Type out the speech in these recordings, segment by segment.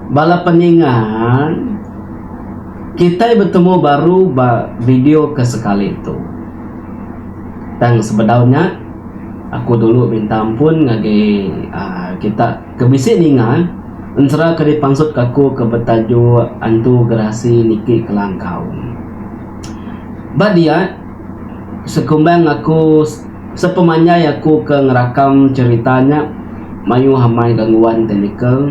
Bala peningan, kitai betemu baru ba video ke sekali tu. Tang sebedau nya, aku dulu minta ampun ngagai uhh kita ke bisi ninga ensera ke dipansutka aku ke betajuk Antu Gerasi Niki Kelangkau. Ba diat, Sekumbang aku sepemanjai aku ke ngerakam cherita nya mayuh amai gangguan teknikal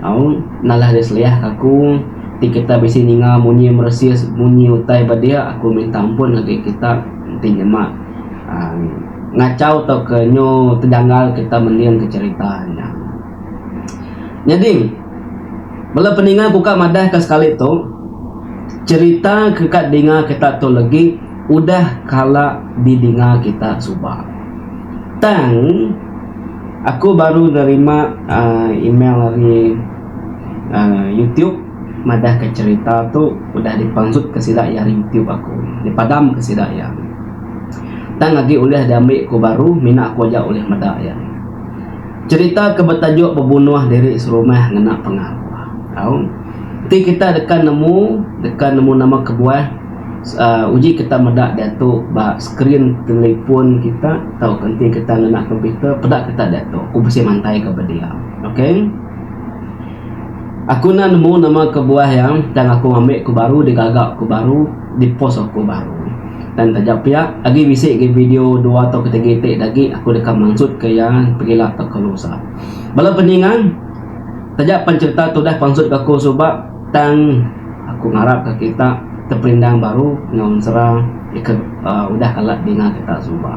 au nalah dia seliah ke aku ti kita bisi ninga munyi meresis munyi utai ba dia aku minta ampun agi kita enti nyema aaa ngachau tauka nyu tejanggal kita mending ke cherita nya. Nyadi. Bala peninga ku ka madah ka sekali tu, cerita ke ka dinga kita tu legi udah kala di dinga kita suba. Tang aku baru nerima uhh email ari uhh youtube madah ka cerita tu udah di panjut ka sida iya ari youtube aku, di padam ka sida iya. Tang agi ulih di ambi ku baru mina aku aja ulih meda iya. Cherita ke betajuk Bebunuh Diri Serumah ngena pengawa tau. Enti kita deka nemu, deka nemu nama kebuah uhh uji kita meda diatu ba skrin telefon kita tauka enti kita ngena komputer peda kita diatu. Aku bisi mantaika ba dia. Okay. Aku enda nemu nama kebuah iya tang aku ngambi ku baru digaga ku baru dipost aku baru. Tang taja pia agi bisi agi video dua tauka tiga iti dagi aku deka mansutka iya pegila tauka lusa. Bala peningan taja pan cherita tu udah pansutka aku suba tang aku ngarapka kita teperindang baru enggau ensera ika udah kala dinga kita suba.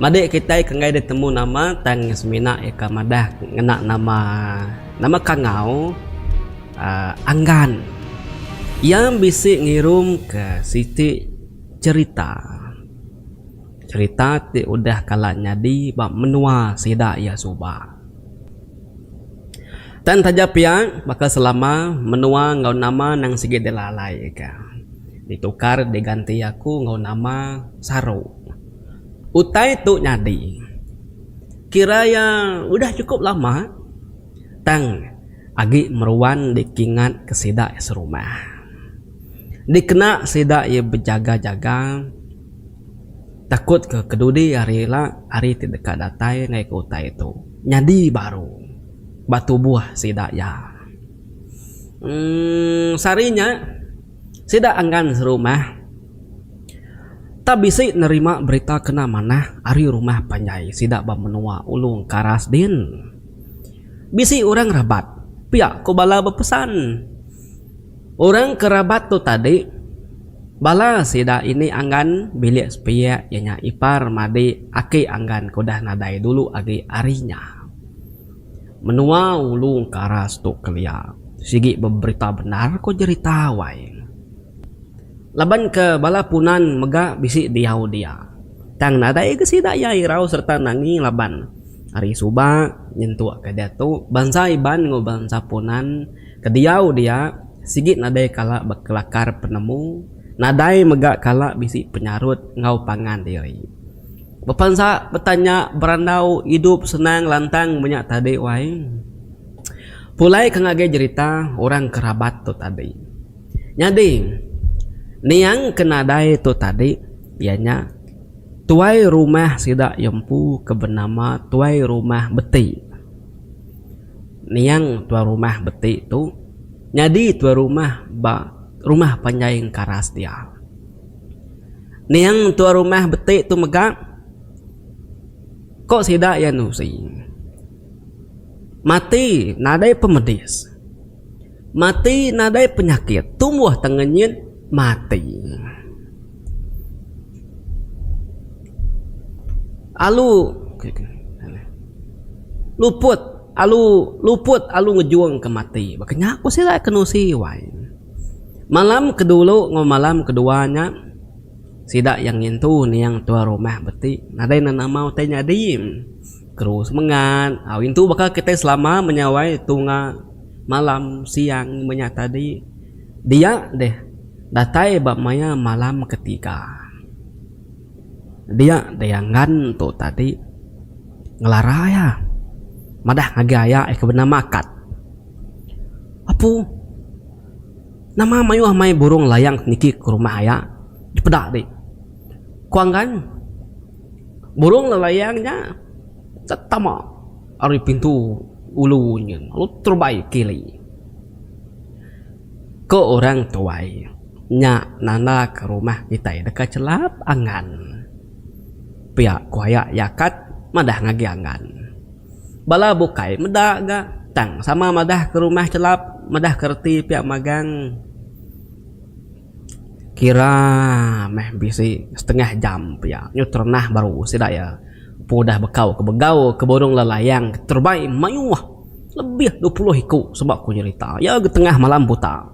Madik kitai kenggai ditemu nama tang semina iya ka madah ngena nama nama kangau uhh anggan. Iya bisi ngirum ka siti cherita. Cherita ti udah kala nyadi ba menua sida iya suba. Tang taja pia baka selama menua enggau nama nang sigi dilalai ka ditukar diganti aku enggau nama saru. Utai tu nyadi kira iya udah chukup lama tang agi meruan dikingatka sida iya serumah. Dikena sida iya bejaga-jaga takutka kedudi hari ila hari ti deka datai ngaika utai tu nyadi baru ba tubuh sida iya. Uhh sehari nya. Sida enggan serumah tau bisi nerima berita kena manah ari rumah panjai sida ba menua Ulu Engkaras din. Bisi orang rabat pia ku bala bepesan orang ke rabat tu tadi bala sida ini enggan bilik sepiak iya nya ipar madi aki enggan ke udah nadai dulu agi ari nya. Menua ulu engkaras tu kelia sigi beberita bendar ko jerita wai. Laban ke bala punan mega bisi diau dia tang nadai ke sida iya irau serta nangi laban ari suba nyentuk ke diatu bansa Iban enggau bansa punan ke diau dia sigi nadai kala bekelakar penemu nadai mega kala bisi penyarut enggau pangan diri. Bepansa betanya berandau idup senang lantang menya tadi wai. Pulai ke ngagai jerita orang ke rabat tu tadi. Nyadi niang ke nadai tu tadi iya nya tuai rumah sida iya empu ke benama Tuai Rumah Beti. Niang Tuai Rumah Beti tu nyadi tuai rumah ba rumah panjai Engkaras dia. Niang tuan rumah beti tu mega ko sida iya nusi mati nadai pemedis mati nadai penyakit tumbuh tengenyit mati alu luput alu luput alu ngejung ke mati baka nya ko sida ke nusi wai. Malam ke dulu enggau malam ke dua nya sida yang ngintu niang tuan rumah beti nadai nan amau tai nyadi keru semengat au intu baka kitai selama menyawai tunga malam siang menya tadi dia deh datai ba maya malam ke tiga. Dia Dayangan tu tadi ngelara iya. Madah ngagai aya iya ke benama Kat. Apu, nama mayuh mai burung layang ti niki ke rumah aya dipeda dik. Ku Anggan, burung layang nya tetama ari pintu ulu nyin lalu terubai kili. Ko orang tuai, nya nanda ke rumah kitai deka chelap angan. Pia ko aya iya kat madah ngagi angan. Bala bukai meda ga tang sama madah ke rumah chelap madah ke reti pia magang. Kira meh bisi setengah jam pia nyuter nah baru sida iya udah bekau ke begau ke burung lelayang terbang mayuh. Lebih dua puluh iku sebab ku nyerita iya ga tengah malam buta.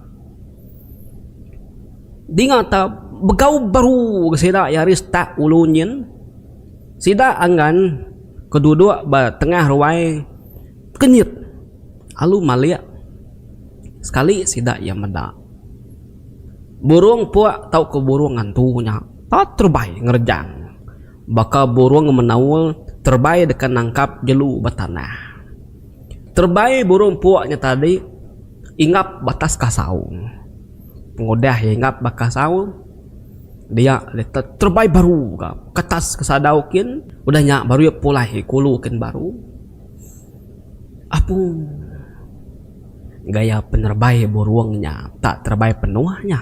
Dinga ta begau baru ga sida iya ari start ulu nyin. Sida angan ke duduk ba tengah ruai kenyit alu malik sekali sida iya meda burung puk tauka burung ngantu nya pa terubai ngerejang. Baka burung menaul terebai deka nangkap jelu ba tanah. Terebai burung empuk nya tadi ingap ba atas kasaung. Pengudah iya ingap ba kasaung, dia iya terebai baru ka ke atas ke sadau kin. Udah nya baru iya pulai kulu kin baru. Apu gaya penerebai burung nya tak terebai penuh nya.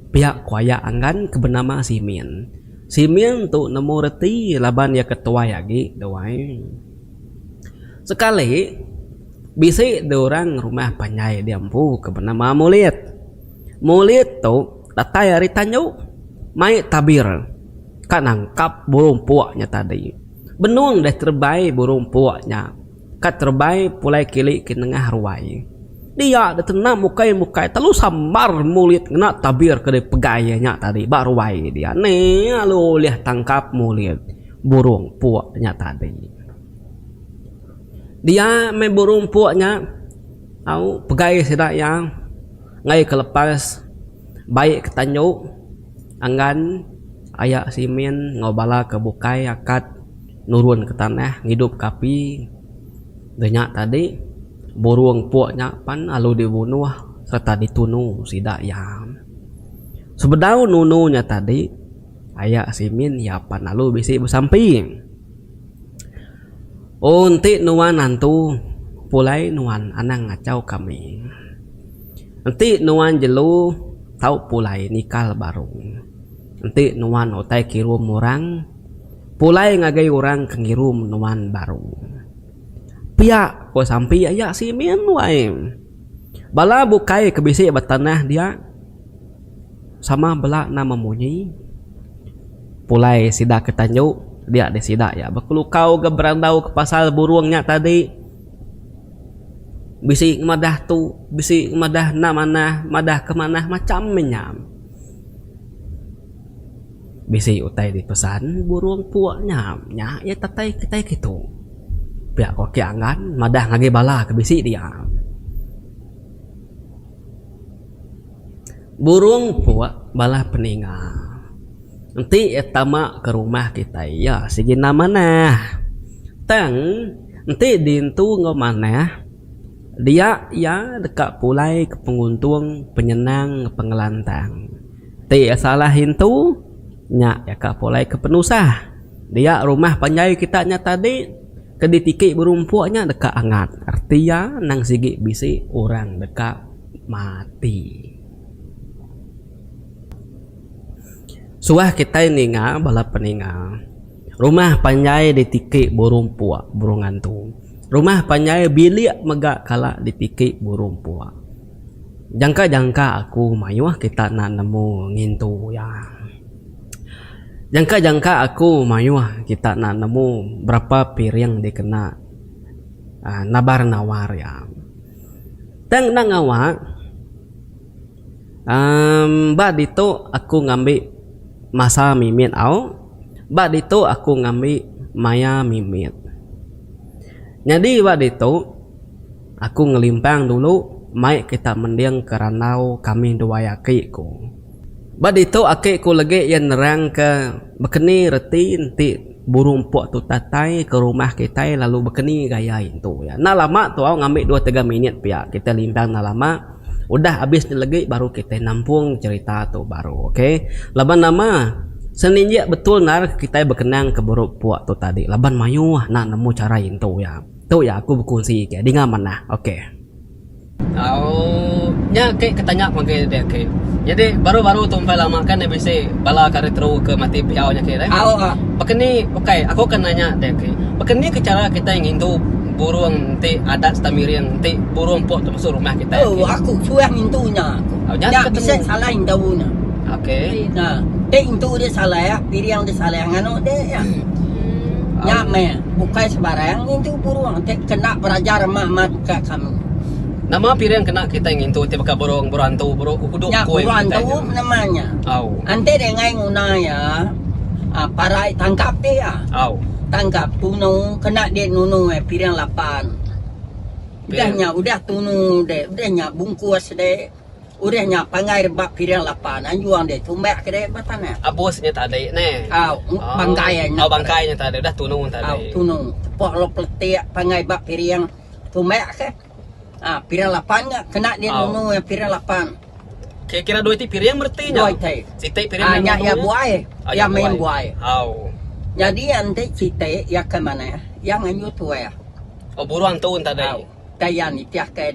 Pia ku aya anggan ke benama Simin. Siming tu nemu reti laban iya ke tuai agi duai. Sekali, bisi dua orang rumah panjai di empu ke benama Mulit. Mulit tu datai ari tandu mai tabir ka nangkap burung puk nya tadi. Benung deh terebai burung puk nya. Ka terebai pulai kili ke nengah ruai. Dia deh tenam ukai mukai telu sambar mulit ngena tabir ke deh pegai iya nya tadi ba ruai dia ne lalu ulih tangkap mulit burung puk nya tadi. Dia meh burung puk nya au pegai sida iya ngai ke lepas bai ke tanju angan aya simin enggau bala ke bukai akat. nurun ke tanah ngidup ke api da nya tadi burung puk nya pan lalu di bunuh serta di tunu sida iya sebedau nunu nya tadi aya simin iya pan lalu bisi besampi oh enti nuan antu pulai nuan anang ngachau kami enti nuan jelu tau pulai nikal baru enti nuan utai kirum orang. Pulai ngagai orang ke ngirum nuan baru. Pia, ku sampi aya simin wai. Bala bukai ke bisi ba tanah dia sama bela nama munyi. Pulai sida ke tanju dia deh sida iya bekelukau ga berandau ke pasal burung nya tadi. Bisi madah tu, bisi madah enda manah, madah ke manah macam inya. Bisi utai dipesan burung pua nya, nya iya tatai kitai kitu. Pia ko Aki Angan madah ngagai bala ke bisi dia. Burung pua bala peninga. Enti iya tama ke rumah kitai iya sigi enda manah. Tang enti dintu enggau manah dia iya deka pulai ke penguntung, penyenang, pengelantang. Ti salah intu nya jaka pulai ke penusah. Dia rumah panjai kita nya tadi ke ditiki berumpok nya deka angat. Reti iya endang sigi bisi orang deka mati. Suah kitai ninga bala peninga rumah panjai ditiki berumpok burung antu. Rumah panjai bilik mega kala ditiki berumpok. Jangka-jangka aku mayuh kita enda nemu ngintu iya. Jangka-jangka aku mayuh kita enda nemu berapa piring dikena nabar-nawar iya. Tang enda ngawa uhh ba ditu aku ngambi masa mimit au, ba ditu aku ngambi maya mimit. Nyadi ba ditu. Aku ngelimpang dulu mai kita mending ke randau kami duai aki ku. Ba ditu aki ku legi iya nerangka bekeni reti enti burung empuk tu tatai ke rumah kitai lalu bekeni gaya iya tu. Iya enda lama tau ngambi dua tiga minit pia kitai limpang enda lama udah abis nya legi baru kitai nampung cerita tu baru okay laban nama seninjik betul nal kitai bekenang ke burung empuk tu tadi laban mayuh enda nemu cara iya tu iya. Tu ya aku bekunsi ke dinga manah ok. Aww nya ke ketanya magai dek ke nyadi baru baru tu empai lama ke enda bisi bala kari teru ke mati piau nya ke dek baka ni ok aku akan nanya dek ke baka ni ke chara kitai ngintu burung enti adat serta miring enti burung pok tu masuk rumah kitai ok nya aku suah ngintu nya ko nya enda bisi salah intu nya ok nya enti intu dia salah piring dia salah nganu dek nya meh. Bukai sebarang ngintu burung ti kena berajar mak-mak ka kami. Nama piring kena kitai ngintu ti baka burung, burung antu, buru, uduk Nya koi burung kitai antu tu? nama nya? Au. Enti dingai nguna iya, um parai tangkap dih iya. Au. Tangkap tunu kena dih nunu iya piring lapan. Udah Piring. nya udah tunu dih, udah nya bungkus dih. Urang nya pangai rebak piring lapan anjung deh tumbak ke deh ba tanah. Abus nya tadi neh. Au, bangkai nya. Au, bangkai nya tadi udah tunu tadi. Au, tunu. Tepok lalu peletik pangai ba piring tumbak ke. Ha, piring lapan nya kena dia nunu piring lapan. Kira-kira dua iti piring bereti nya. Dua iti. Siti piring nunu. Nya iya buai. Iya main buai. Au. Jadi iya enti siti iya ke manah, iya nganjung tuai. Oh, buruan tu tadi. Au. Tanya nitih ke.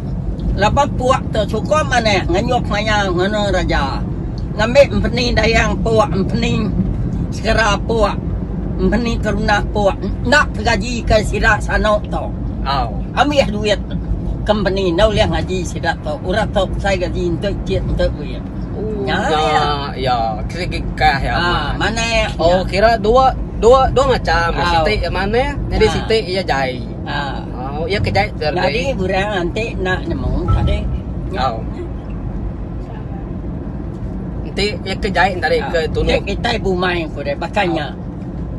laban puak tu chukup manik ngenyup maya ngena raja. Ngambi empeni dayang puak empeni segera puak empeni keruna puak enda tegaji ke sida sano tu. Au ambis duit company enda ulih ngaji sida tu orang tu besai gaji enti chit enti duit. Nya iya segi kah iya manik. Oh kira dua dua dua macam siti manik nyadi siti iya jai. Ah. Oh, iya ke jai ter. Nyadi orang enti nak nemu tadi. Oh. Enti iya ke jai tadi ah. ke tunu. Nek kita bumai ko deh bakanya. Oh.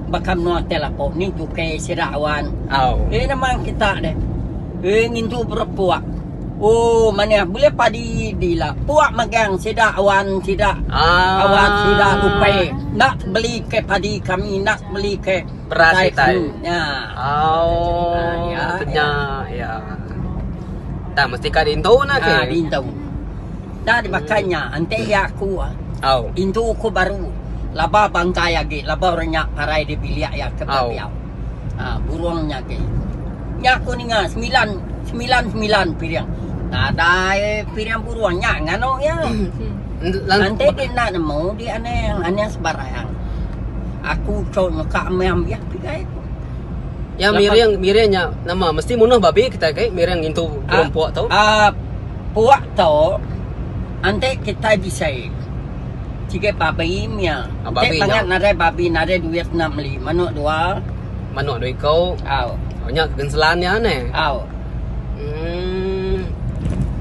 Bakam no tel apo ni juke sira awan. Oh. Eh nama kita deh. Eh ngintu berpuak. Oh, mana boleh padi dila. Puak magang sida awan sida. Ah. Awan sida lupai. Nak beli ke padi kami nak beli ke. Beras Utai utai. kenu nya. Oh, nya, nya ya. Tang mesti ka dintu nah ke. Ah, dintu. Dah dimakan nya, enti ya aku. Au. Intu ku baru. Laba bangkai agi, laba orang nya parai di bilik ya ke biau. Ah, burung nya ke. Nya aku ninga semilan, semilan semilan piring. Nadai piring burung nya nganu ya. Lantai ti enda nemu di Anang, Anang sebarang. Aku cho nyeka meh ambih pigai aku. Nya miring miring nya nama mesti munuh babi kitai kai miring ngintu burung ah, puak tu. Ah uh, puak tu ante kitai bisai. Cigai babi mia. Ah, babi nya. Bangat nadai babi nadai duit nak meli manuk dua. Manuk dua iko. Au. Oh, nya kegenselan nya ne. Au. Hmm.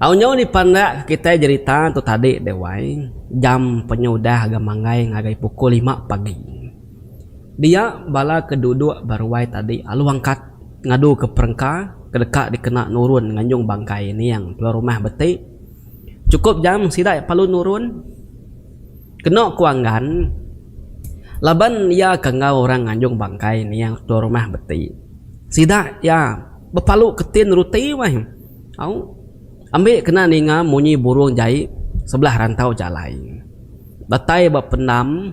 Tau nyau dipandak ke kitai jerita tu tadi deh wai, jam penyudah ga manggai ngagai pukul lima pagi. Dia bala ke duduk ba ruai tadi alu angkat ngadu ke perengka ke deka dikena nurun nganjung bangkai ning tuai rumah beti. Chukup jam sida iya palu nurun. Keno ku Anggan laban iya ke enggau orang nganjung bangkai ning tuai rumah beti. Sida iya bepalu ketin ruti wai. Au, ambi kena ninga munyi burung jai sebelah rantau jalai. Datai ba pendam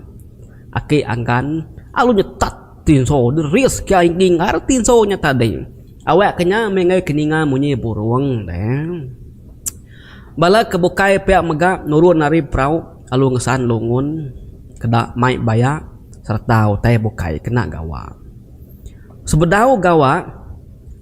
aki Anggan alu nyetat tinso deris kia engging ari tinso nya tadi. Awakka nya meh enggai ke ninga munyi burung deh. Bala ke bukai pia mega nurun ari perau alu ngesan lungun keda mai baya sereta utai bukai kena gawa. Sebedau gawa.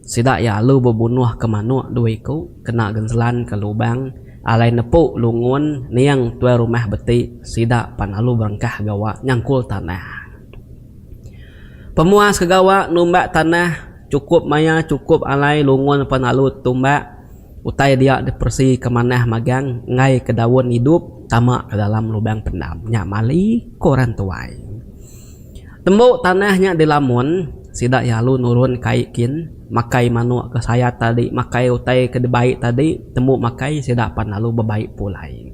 Sida iya alu bebunuh ke manuk dua iku kena genselan ke lubang alai nepu lungun ning tuai rumah beti sida pan alu berengkah gawa nyangkul tanah. Pemuas ke gawa numbak tanah chukup maya chukup alai lungun pan alu tumbak utai dia diperesi ke manah magang enggai ke daun idup tama ke dalam lubang pendam nya mali ku orang tuai. Tembu tanah nya dilamun, sida iya alu nurun kai kin, makai manuk ke sayat tadi, makai utai ke dibai tadi, tembu makai sida pan lalu bebai pulai.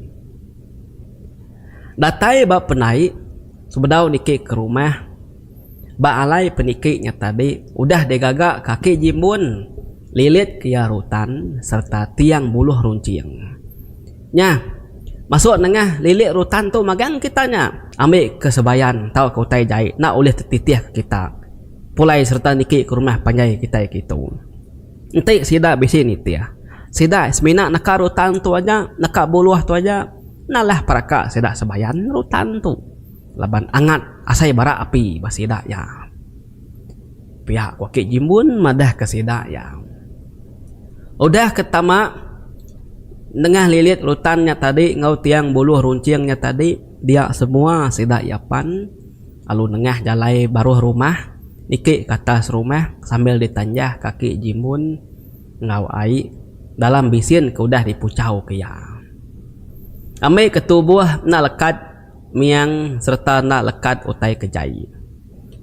Datai ba pendai, sebedau niki ke rumah, ba alai peniki nya tadi udah digaga kaki jimbun, lilit ke iya rutan sereta tiang buluh runcing. Nya. Masuk nengah lilik rutan tu magang kita nya. Ambi ke Sebayan tauka utai jai enda ulih tetitihka kita pulai sereta niki ke rumah panjai kitai kitu. Enti sida bisi nitih, sida semina neka rutan tu aja, neka buluh tu aja. Nalah peraka sida Sebayan rutan tu laban angat asai bara api ba sida iya. Piak Wakit Jimbun madahka sida iya, udah ke tama nengah lilit rutan nya tadi enggau tiang buluh runcing nya tadi dia semua sida iya pan lalu nengah jalai baruh rumah niki ke atas rumah sambil ditanjah kaki Jimbun enggau ai dalam bisin ke udah dipuchau ke iya. Ambi ke tubuh enda lekat. miang sereta enda lekat utai ke jai.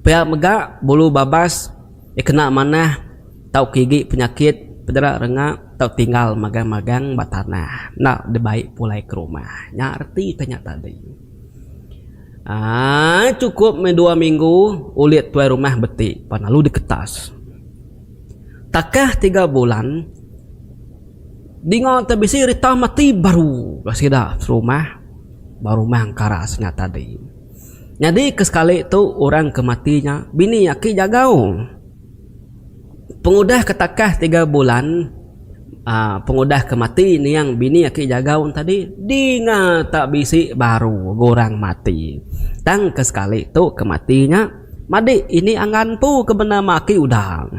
Pia mega, bulu babas iya kena manah tauka igi penyakit pederak renga tau tinggal magang-magang ba tanah enda dibai pulai ke rumah. Nya reti ke nya tadi. Aaa chukup meh dua minggu ulit tuai rumah beti pan lalu diketas. Takah tiga bulan dinga te bisi rita mati baru bala sida serumah. Ba rumah engkara sida tadi. Nyadi ke sekali tu orang ke mati nya bini aki jagau. Pengudah ke takah tiga bulan uhh pengudah ke mati niang bini aki jagau ne tadi dinga tak bisi baru ga orang mati. Tang ke sekali tu ke mati nya madik ini angan empu ke bendar mak aki udah.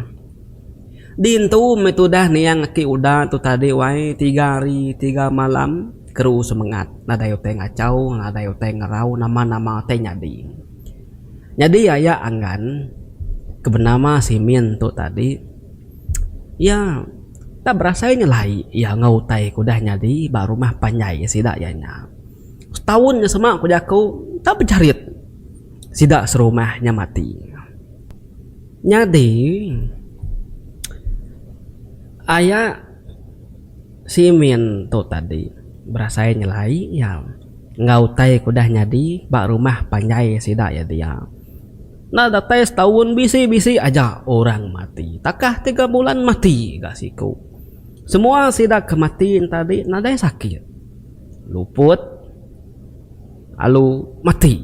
Dintu meh tudah niang aki uda tu tadi wai tiga hari tiga malam keru semengat nadai utai ngachau nadai utai ngerau nama-nama utai nyadi. Nyadi aya angan ke benama simin tu tadi iya enda berasai nyelai iya enggau utai ke udah nyadi ba rumah panjai sida iya nya. Setaun nya sema ku jaku enda bejerit sida serumah nya mati. Nyadi, aya simin tu tadi berasai nyelai iya enggau utai ke udah nyadi ba rumah panjai sida iya dia. Enda datai setaun bisi-bisi aja orang mati. Takah tiga bulan mati ga siku. Semua sida ke mati tadi nadai sakit. Luput lalu mati.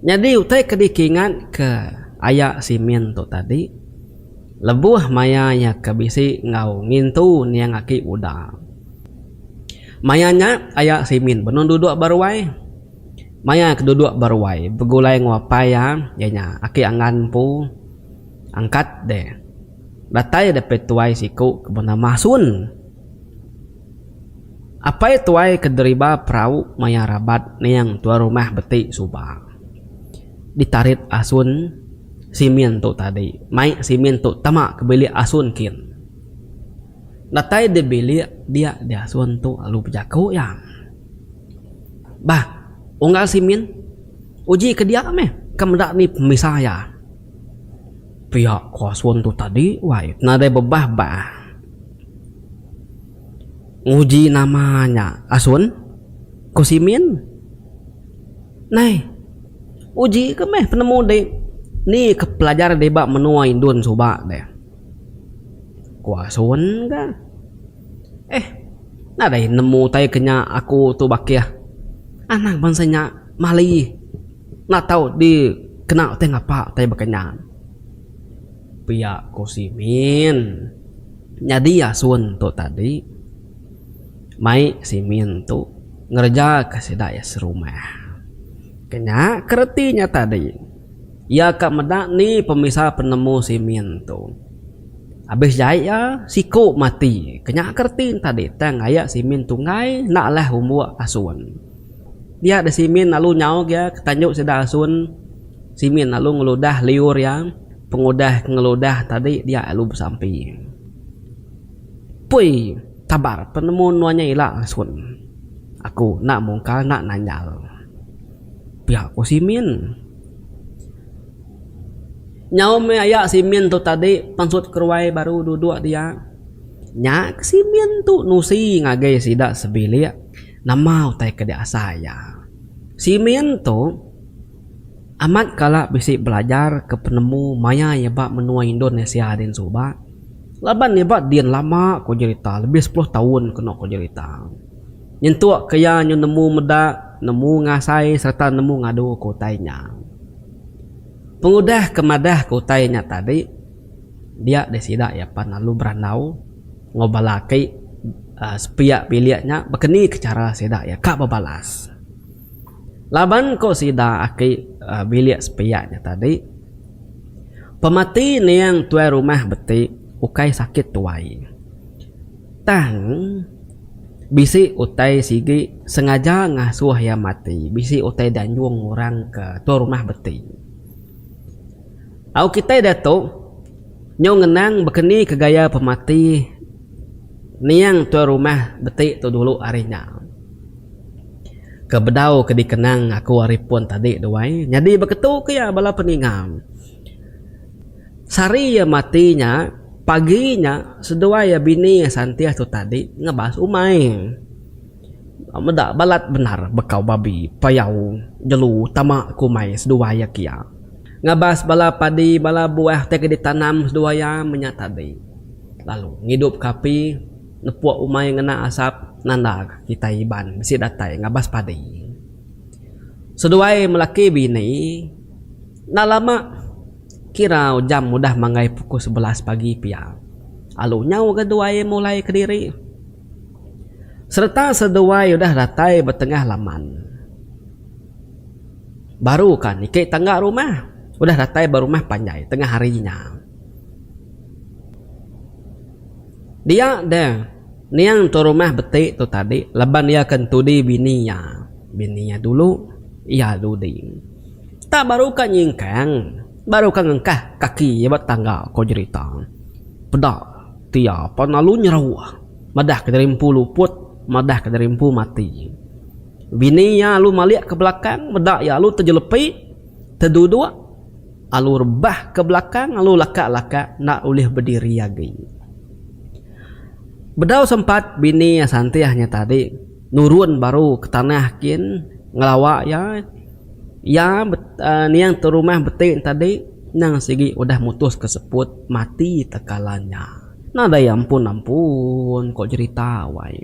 Nyadi utai ke dikingat ke aya Simin tu tadi lebuh maya iya ke bisi enggau ngintu niang aki Uda. Maya nya aya Simin benung duduk ba ruai. Maya ke duduk ba ruai begulai enggau apai iya iya nya aki Anggan empu angkat deh. Datai deh pia tuai siku ke benama Sun. Apai tuai ke deriba perau maya rabat ning tuan rumah beti suba. Ditarit asun simin tu tadi. Mai simin tu tama ke bilik asun kin. Datai di bilik dia di asun tu lalu bejaku iya. Bah, unggal simin. Uji ke dia meh. Ke meda ni pemisa iya. Pia ko asun tu tadi wai nadai bebah bah. Nguji nama nya asun? ko simin. Nai uji ke meh penemu di ni ke pelajar deba menua indun suba deh. Ko asun ga. Eh nadai nemu utai ke nya aku tu bakih. Anang bansa nya mali Enda tau di kena utai ngapa utai baka nya. Pia ko si Min. Nyadi asun tu tadi mai si Min tu ngereja ka sida iya serumah. Ke nya ke reti nya tadi iya ka meda ni pemisa penemu si Min tu. Abis jai iya siko mati. Ke nya ke reti nya tadi tang aya si Min tunggai enda alah umbo asun. Dia deh Simin lalu nyauk iya ke tanjok sida asun. Simin lalu ngeludah liur iya, pengudah ke ngeludah tadi dia lalu besampi. Pui, tabar penemu nuan nya ila asun. Aku enda mungkal enda nanjal. Pia ku Simin. Nyau meh aya Simin tu tadi pansut keruai baru dudok dia. Nya ke Simin tu nusi ngagai sida sebilik. Nama utai ke diasai iya? Simeon tu amat kala bisi belajar ke penemu maya iya ba menua Indonesia din suba laban iya ba din lama ku jerita lebih sepuluh taun kenu ku jerita. Nyentuk ke iya nyu nemu meda, nemu ngasai sereta nemu ngadu ke utai nya. Pengudah ke madah ke utai nya tadi. Dia deh sida iya pan lalu berandau enggau bala aki sepiak bilik nya bekeni ke chara sida iya ka bebalas. Laban ko sida aki bilik sepiak nya tadi pemati ning tuai rumah beti ukai sakit tuai tang bisi utai sigi sengaja ngasuh iya mati bisi utai di anjung orang ke tuai rumah beti. Au kitai diatu nyau ngenang baka ni ke gaya pemati niang tuai rumah beti tu dulu ari nya. Ke bedau ke dikenang aku ari pun tadi duai nyadi baka tu ke iya bala peninga. Sehari iya mati nya, pagi nya seduai iya bini Santih tu tadi ngebas umai. Meda balat bendar bekau babi, payau, jelu, tama ku mai seduai iya kia. Ngabas bala padi bala buah ti ke ditanam seduai iya menya tadi lalu ngidupka api nepuk umai ngena asap nanda kitai Iban bisi datai ngabas padi. Seduai melaki bini enda lama kira jam udah manggai pukul sebelas pagi pia lalu nyau ga duai mulai kediri. Sereta seduai udah datai ba tengah laman. Baru ka niki tangga rumah udah datai ba rumah panjai tengah hari nya. Dia deh niang tu rumah beti tu tadi laban iya akan tudi bini iya. Bini iya dulu iya dudi. Tak baru ka nyingkang baru ka ngengkah kaki iya ba tangga ko jerita. Peda. Tia pan lalu nyerau madah ke diri empu luput madah ke diri empu mati. Bini iya lalu malik ke belakang meda iya lalu tejelepi teduduk lalu rebah ke belakang lalu laka laka enda ulih bediri agi. Bedau sempat bini iya santih nya tadi nurun baru ke tanah kin ngelawa iya iya nia ke rumah beti tadi. Endang sigi udah mutus ke seput mati tekala nya. Nadai iya ampun ampun ko jerita wai.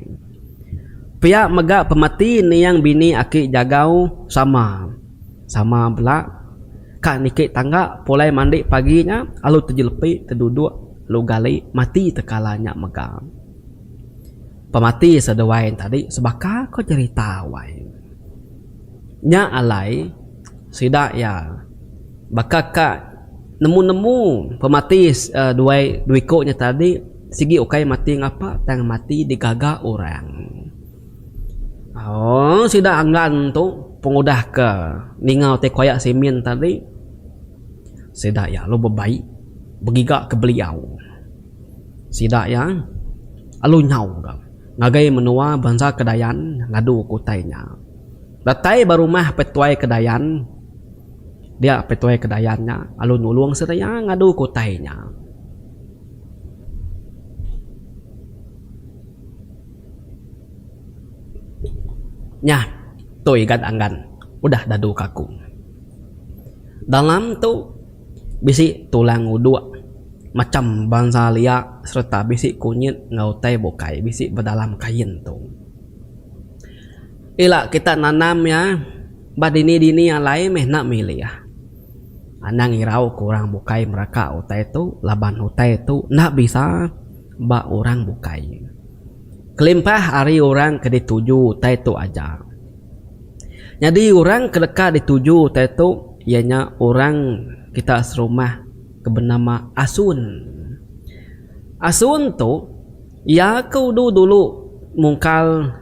Pia mega pemati niang bini aki jagau sama sama bela ka niki tangga pulai mandi pagi nya alu tejelepi teduduk alu gali mati tekala nya mega. Pemati seduai nya tadi sebaka ko jerita wai. Nya alai sida iya. Baka ka nemu-nemu pemati dua iku nya tadi sigi ukai mati ngapa tang mati digaga orang. Aaa sida anggan tu pengudah ke ningau ti koyak simin tadi sida iya lalu bebai begiga ke beliau. Sida iya lalu nyau ga ngagai menua bansa ke Dayan ngadu ke utai nya. Datai ba rumah Petuai ke Dayan. Dia Petuai ke Dayan nya lalu nulung seraya ngadu ke utai nya. Nya tu Igan Anggan udah dadu kaku. Dalam tu bisi tulang uduk, macham bansa lia sereta bisi kunyit enggau utai bukai bisi ba dalam kain tu. Ila kita nanam iya ba dini-dini alai meh enda milih. Anang irau ke orang bukai meraka utai tu laban utai tu enda bisa ba orang bukai. Kelimpah ari orang ke dituju utai tu aja. Nyadi orang ke deka dituju utai tu iya nya orang kita serumah ke benama Asun. Asun tu. Iya ke udu dulu mungkal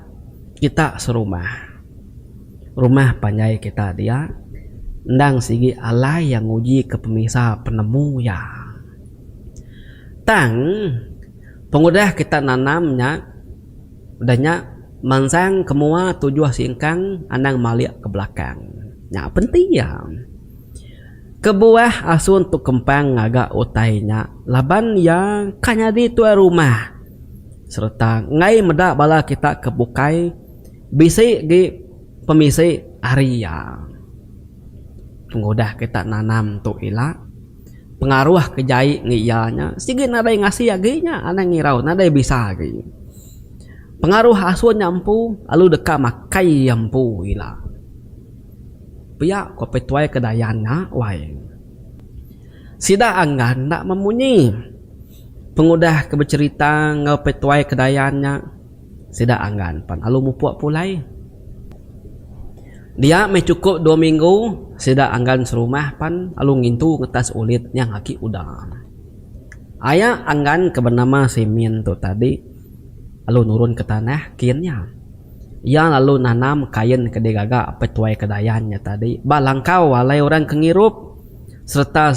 kita serumah. Rumah panjai kita dia endang sigi alai iya ngujika pemisa penemu iya. Tang, pengudah kita nanam nya, udah nya mansang ke mua tujuh singkang anang malik ke belakang. Nya penti iya. Kebuah asun tu kempang ngaga utai nya laban iya ka nyadi tuai rumah sereta enggai meda bala kita ke bukai bisi agi pemisi ari iya. Pengudah kita nanam tu ila, pengaruh ke jai ngi iya nya sigi nadai ngasi agi nya anang ngirau nadai bisa agi. Pengaruh asun nya empu lalu deka makai iya empu ila. Pia ko Petuai ke Dayan nya wai. Sida anggan enda memunyi. Pengudah ke becerita enggau Petuai ke Dayan nya sida anggan pan lalu mupuk pulai. Dia meh chukup dua minggu sida anggan serumah pan lalu ngintu ngetas ulit nyang agi uda. Aya anggan ke benama Simin tu tadi lalu nurun ke tanah kin nya. Iya lalu nanam kain ke digaga petuai Kedayan nya tadi ba langkau walai orang ke ngirup sereta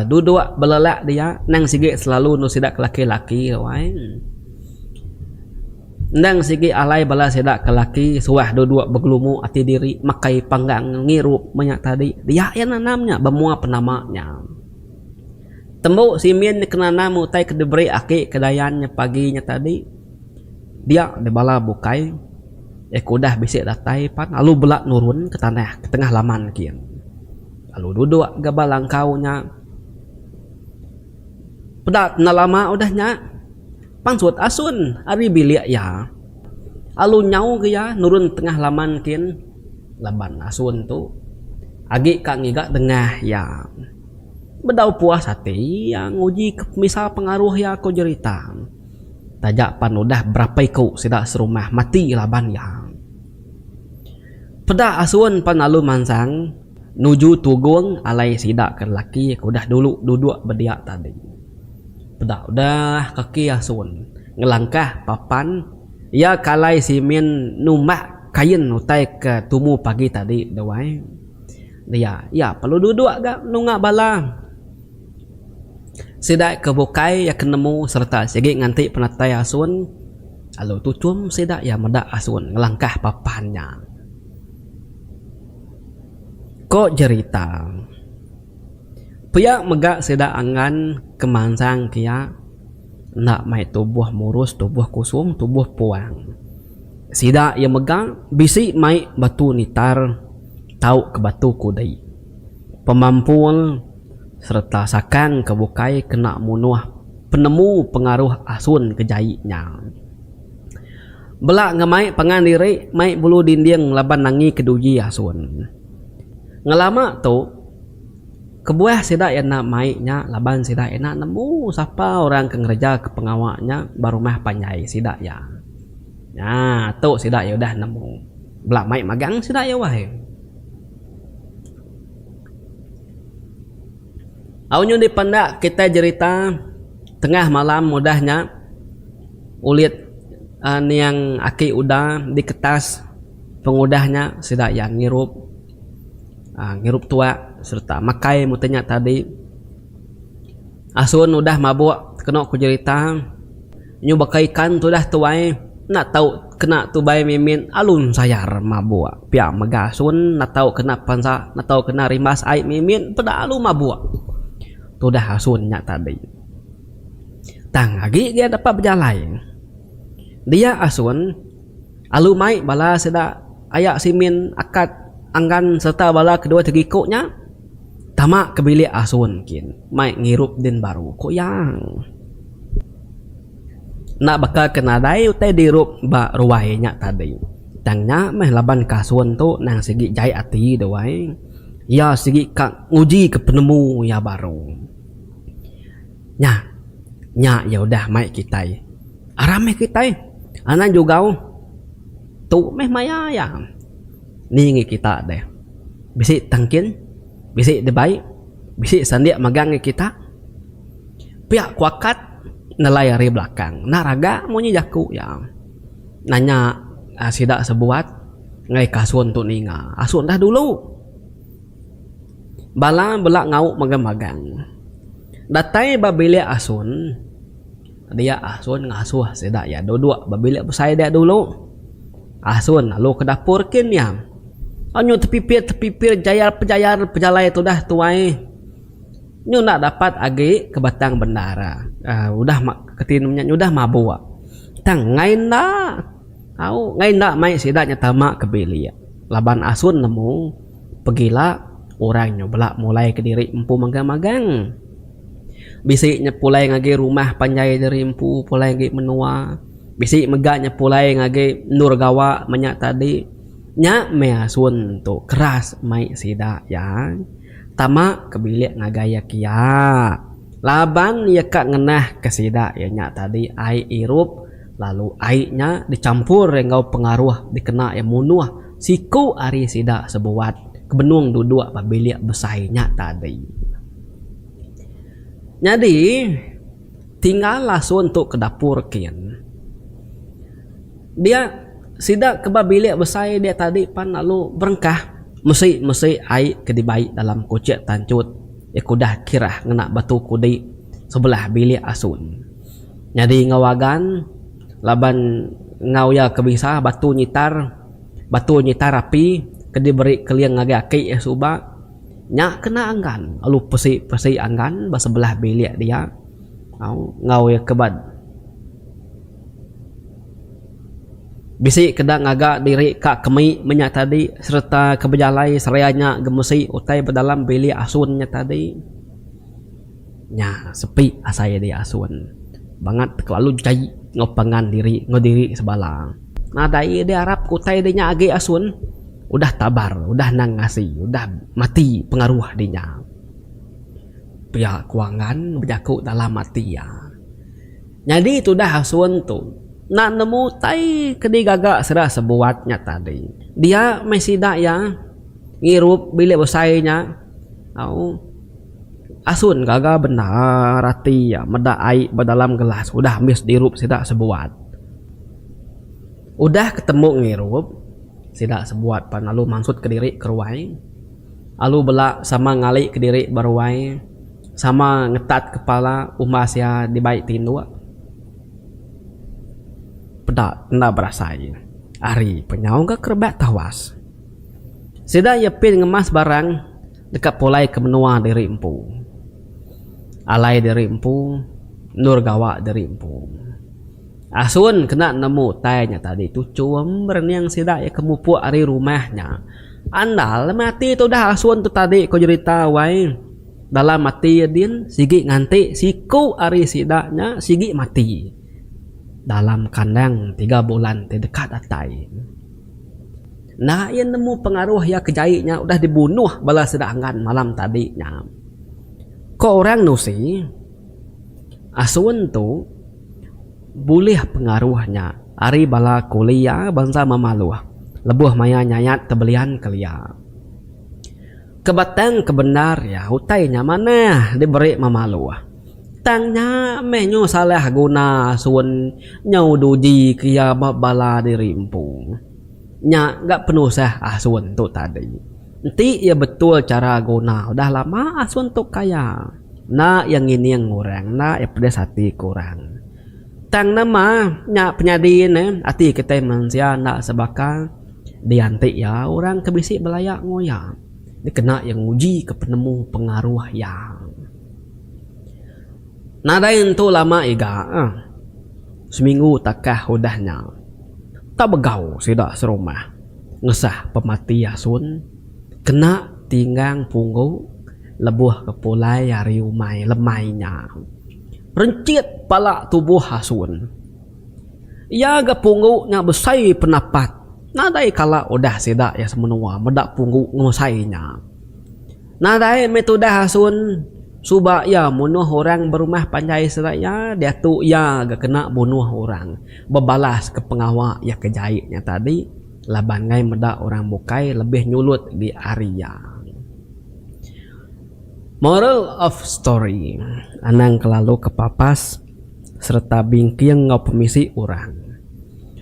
duduk belelak dia endang sigi selalu enda sida ke laki-laki wai. Endang sigi alai bala sida ke laki suah duduk begelumu ati diri makai panggang ngirup meh nya tadi. Dia iya nanam nya ba mua penama nya. Tembu simin ke nanam utai ke diberi aki Kedayan nya pagi nya tadi. Dia deh bala bukai iya ke udah bisi datai pan lalu bela nurun ke tanah ke tengah laman kin lalu duduk ga ba langkau nya. Peda enda lama udah nya pansut asun ari bilik iya lalu nyau ga iya nurun tengah laman kin laban asun tu agi ka ngiga dengah iya. Bedau puas ati iya nguji ka pemisa pengaruh iya ko jerita. Taja pan udah berapa iku sida serumah mati laban iya hang. Peda asun pan lalu mansang nuju tugung alai sida ke lelaki ke udah dulu duduk bediak tadi. Peda udah kaki asun ngelangkah papan iya ke alai simin numbak kain utai ke tumu pagi tadi deh wai. Dia iya perlu duduk ga nunga bala. Sida ke bukai iya ke nemu sereta sigi nganti penatai asun lalu tuchum sida iya meda asun ngelangkah papan nya. Ko jerita. Pia mega sida angan ke mansang ke iya enda mai tubuh murus tubuh kusung tubuh puang. Sida iya mega bisi mai batu nitar tau ke batu kudi. Pemampul. sereta sakan ke bukai kena munuh penemu pengaruh asun ke jai nya. Bela ngemai pangan diri mai bulu dinding laban nangi keduji asun. Ngelama tu, kebuah sida enda mai nya laban sida enda nemu sapa orang ke ngerejaka pengawa nya ba rumah panjai sida iya. Nya tu sida iya udah nemu. Bela mai magang sida iya wahai. Au nyu dipanda enda kitai jerita tengah malam udah nya ulit aning aki uda diketas pengudah nya sida iya ngirup aaa ngirup tuak serta makai mete nya tadi asun udah mabuk kenu ku jerita. Nyu baka ikan tudah tuai enda tau kena tubai mimit alun sayar mabuk pia mega asun enda tau kena pensa enda tau kena rimbas ai mimit peda alu mabuk tudah asun nya tadi tang agi gia dapat bejalai dia asun. Alu mai bala sida aya Simin, Akat, Anggan sereta bala kedua tegiku nya tama ke bilik asun kin mai ngirup din baru, ku iya. Enda baka ke nadai utai dirup ba ruai nya tadi, tang nya meh laban ke asun tu endang sigi jai ati duai iya sigi ka ngujika penemu iya baru. Nya, nya iya udah mai kitai. Aram meh kitai. Anang jugau. Tu meh maya iya. Ni ngi kita deh. Bisi tang kin. Bisi dibai. Bisi sandik magang ngi kita. Pia ku akat nelai ari belakang. Enda raga munyi jaku iya. Nanya sida sebuat ngai kasun tu ninga. Asu dah dulu. Bala bela ngau magang magang. Datai ba bilik asun. Dia asun ngasuh sida iya duduk ba bilik besai dia dulu. Asun lalu ke dapur kin iya. Anyu tepipit tepipit jayar pejayar pejalai tudah tuai. Nyu enda dapat agi ke batang bendar. Aaa udah keti nemu nya udah mabuk. Tang ngai enda. Au ngai enda mai sida nya tama ke bilik laban asun nemu. Pegila, orang nyo bela mulai ke diri empu magang-magang. Bisi nyo pulai ngagi rumah panjai diri empu pulai agi menua. Bisi mega nyo pulai ngagi endur gawa manya tadi. Nya meh asun tu keras mai sida iya. Tama ke bilik ngagai iya kia. Laban iya ka ngenah ke sida iya nya tadi ai irup lalu ai nya dichampur enggau pengaruh dikena iya munuh. Siku ari sida sebuat ke benung duduk ba bilik besai nya tadi. Nyadi, tinggal lasun tu ke dapur kin. Dia sida ke ba bilik besai dia tadi pan lalu berengkah mesi mesi ai ke dibai dalam kuchik tanchut iya ke udah kirah ngena batu kudi sebelah bilik asun. Nyadi enggau agan laban enggau iya ke bisa batu nyitar. Batu nyitar api ke diberi Keling ngagai aki iya suba nya kena anggan lalu pesi-pesi anggan ba sebelah bilik dia enggau iya ke ba bisi ke enda ngaga diri ka kemi menya tadi sereta ke bejalai seria nya gemesi utai ba dalam bilik asun nya tadi. Nya sepi asai dek asun. Bangat kelalu jai enggau pangan diri enggau diri ke sebala. Nadai dek arap ke utai dek nya agi asun. Udah tabar, udah endang ngasi, udah mati pengaruh dek nya. Pia ku Angan bejaku dalam ati iya. Nyadi tudah asun tu enda nemu utai ke digaga sida sebuat nya tadi. Dia meh sida iya ngirup bilik besai nya. Au. Asun gaga bendar ati iya meda ai ba dalam gelas udah ambis dirup sida sebuat. Udah ketemu ngirup, sida sebuat pan lalu mansutka diri ke ruai. Alu bela sama ngalika diri ba ruai, sama ngetat kepala umbas iya dibai tinduk. Peda enda berasai, ari penyau ga kerebak tawas. Sida iya pin ngemas barang deka pulai ke menua diri empu. Alai diri empu, endur gawa diri empu. Asun kena nemu utai nya tadi tu chum berening sida iya ke mupuk ari rumah nya. Andal meh ati tudah asun tu tadi ko jerita wai. Dalam ati iya din sigi nganti siku ari sida nya sigi mati dalam kandang tiga bulan ti deka datai. Enda iya nemu pengaruh iya ke jai nya udah dibunuh bala sida Angan malam tadi nya. Ko orang nusi asun tu bulih pengaruh nya ari bala kuli iya bansa Mamaluh lebuh maya nyayat ke Belian kelia. Ke batang ke bendar iya utai nya manah diberi Mamaluh. Tang nya meh nyu salah guna asun nyu du ji keria ba bala diri empu. Nya ga penusah asun tu tadi. Enti iya betul chara guna udah lama asun tu kaya. Enda iya ngining orang, enda iya pedis ati ke orang. Tang nama nya penyadi ne ati kitai mensia enda sebaka dianti iya orang ke bisi belaya enggau iya dikena iya nguji ke penemu pengaruh iya. Nadai entu lama iga, seminggu takah udah nya, Tabegau sida serumah ngesah pemati asun kena tinggang punggu lebuh ke pulai ari umai lemai nya. Renchit pala tubuh asun. Iya ga punggu nya besai penapat nadai kala udah sida iya semenua meda punggu ngusai nya. Nadai meh tudah asun suba iya munuh orang berumah panjai sida iya diatu iya ga kena bunuh orang bebalas ke pengawa iya ke jai nya tadi laban ngai meda orang bukai lebih nyulut agi ari iya. Moral of story anang kelalu ke papas sereta bingking enggau pemisi orang.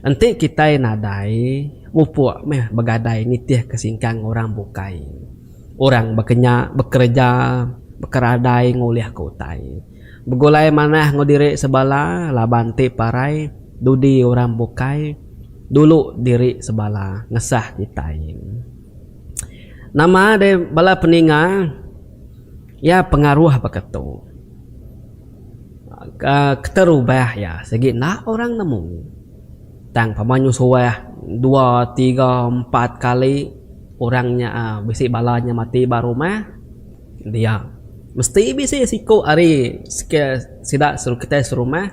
Enti kitai nadai mupuk meh begadai nitih ke singkang orang bukai. Orang baka nya bekereja bekeradai ngulihka utai. Begulai manah enggau diri sebala laban ti parai dudi orang bukai dulu diri sebala ngesah kitai. Nama deh bala peninga iya pengaruh baka tu. Keterubah iya sigi enda orang nemu. Tang pama nyu suah dua tiga empat kali orang nya bisi bala nya mati ba rumah dia mesti bisi siku ari ske sida kitai serumah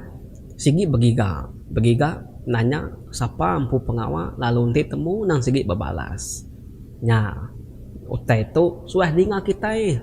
sigi begiga begiga nanya sapa empu pengawa lalu enti temu nang sigi bebalas nya utai tu suah dinga kitai.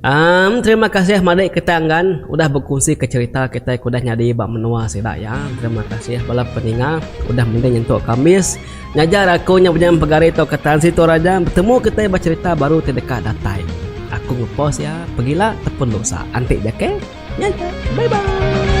Am terima kasih madik kita enggan udah bekunsi ke cerita kitai ke udah nyadi ba menua sida ya. Terima kasih bala peninga ke udah mending nyentuk kambis. Ngajar aku nya penyam pegari tau ke tan situ raja betemu kitai ba cerita baru ti deka datai. Aku ngepost ya pegila ataupun dosa. Antik ja ke. Nya aja. Bye bye.